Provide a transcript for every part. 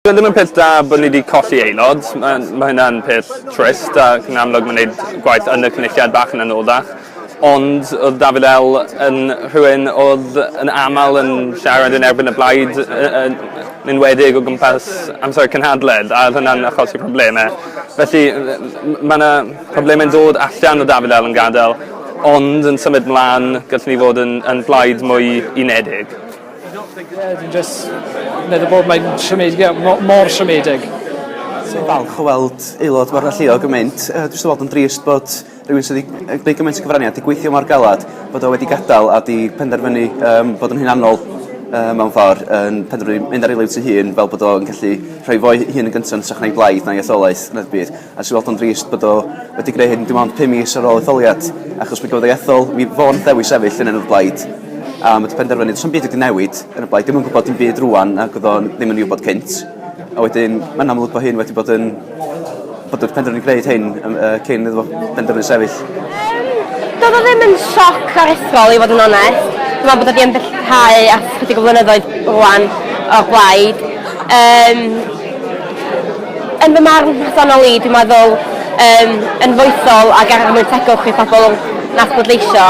Dyw e ddim yn peth da bod ni 'di colli aelod, mae mae hynna'n peth trist ac yn amlwg mae'n wneud gwaith yn y Cynulliad bach yn anoddach, ond oedd Dafydd El yn rhywun oedd yn aml yn siarad yn erbyn y blaid yy yn yn enwedig o gwmpas amser y cynhadledd a oedd hwnna'n achosi problemau. Felly mae 'na problemau'n dod allan o Dafydd El yn gadael ond yn symud mlaen gallwn ni fod yn yn blaid mwy unedig. Dwi'n jyst meddwl bod mae'n siomedig, ie, mo- mor siomedig. Dwi'n falch o weld aelod mor alluog yn mynd. Dwi jyst yn weld yn drist bod rhywun sydd wedi gwneud gymaint o gyfraniad, wedi gweithio mor galed, bod o wedi gadael a wedi penderfynu um, bod yn hunanol um, mewn ffordd, yn penderfynu mynd ar ei liwt ei hun fel bod o'n gallu rhoi fo'i hun yn gyntaf yn trach na'i blaid na'i etholaeth na'r byd. A jyst i weld o'n drist bod o wedi gwneud hyn dim ond pum mis ar ôl etholiad, achos mi gafodd ei ethol, mi fo nath ddewis sefyll yn enw'r blaid, a ma' 'di penderfynu do's 'na'm byd wedi newid yn y blaid, dim yn gwbod dim byd rŵan nag odd o'n ddim yn 'i wbod cynt, a wedyn ma'n amlwg bo' hyn wedi bod yn bod y penderfynu gneud hyn yym yy cyn iddo fo benderfynu sefyll. Yym do'dd o ddim yn sioc aruthrol i fod yn onest, dwi me'wl bod o 'di ymdellhau ers chydig o flynyddoedd rŵan o'r blaid, yym. Yn fy marn personol i, dwi'n meddwl yym yn foesol ag ar mwy tegwch i phobl na phleidleisio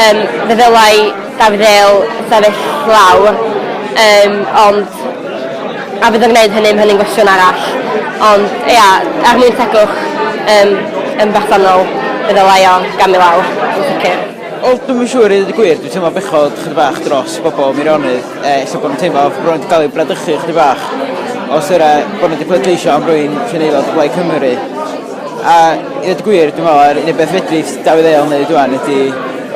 yym fe ddylai Dafydd Dale sefyll lawr yym ond a fydd yn gneud hynny ma' hynny'n gwestiwn arall ond ia er mwyn tegwch yym yn bersonol fe ddylai o gamu lawr yn sicir. Wel dwi'm yn siŵr i ddeud y gwir dwi teimlo bechod chydig bach dros bobol Meirionydd Ella bod nhw'n teimlo bod nhw wedi cael eu bradychu ychydig bach os yna bod nhw wedi pleidleisio am rywun sy'n aelod o Blaid Cymru. A i ddweud y gwir, dwi'n meddwl, yr unig beth fedri Dafydd Eil wneud rwan ydy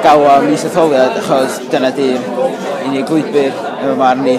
galw am is-etholiad achos dyna 'di'r unig lwybr yn fy marn i.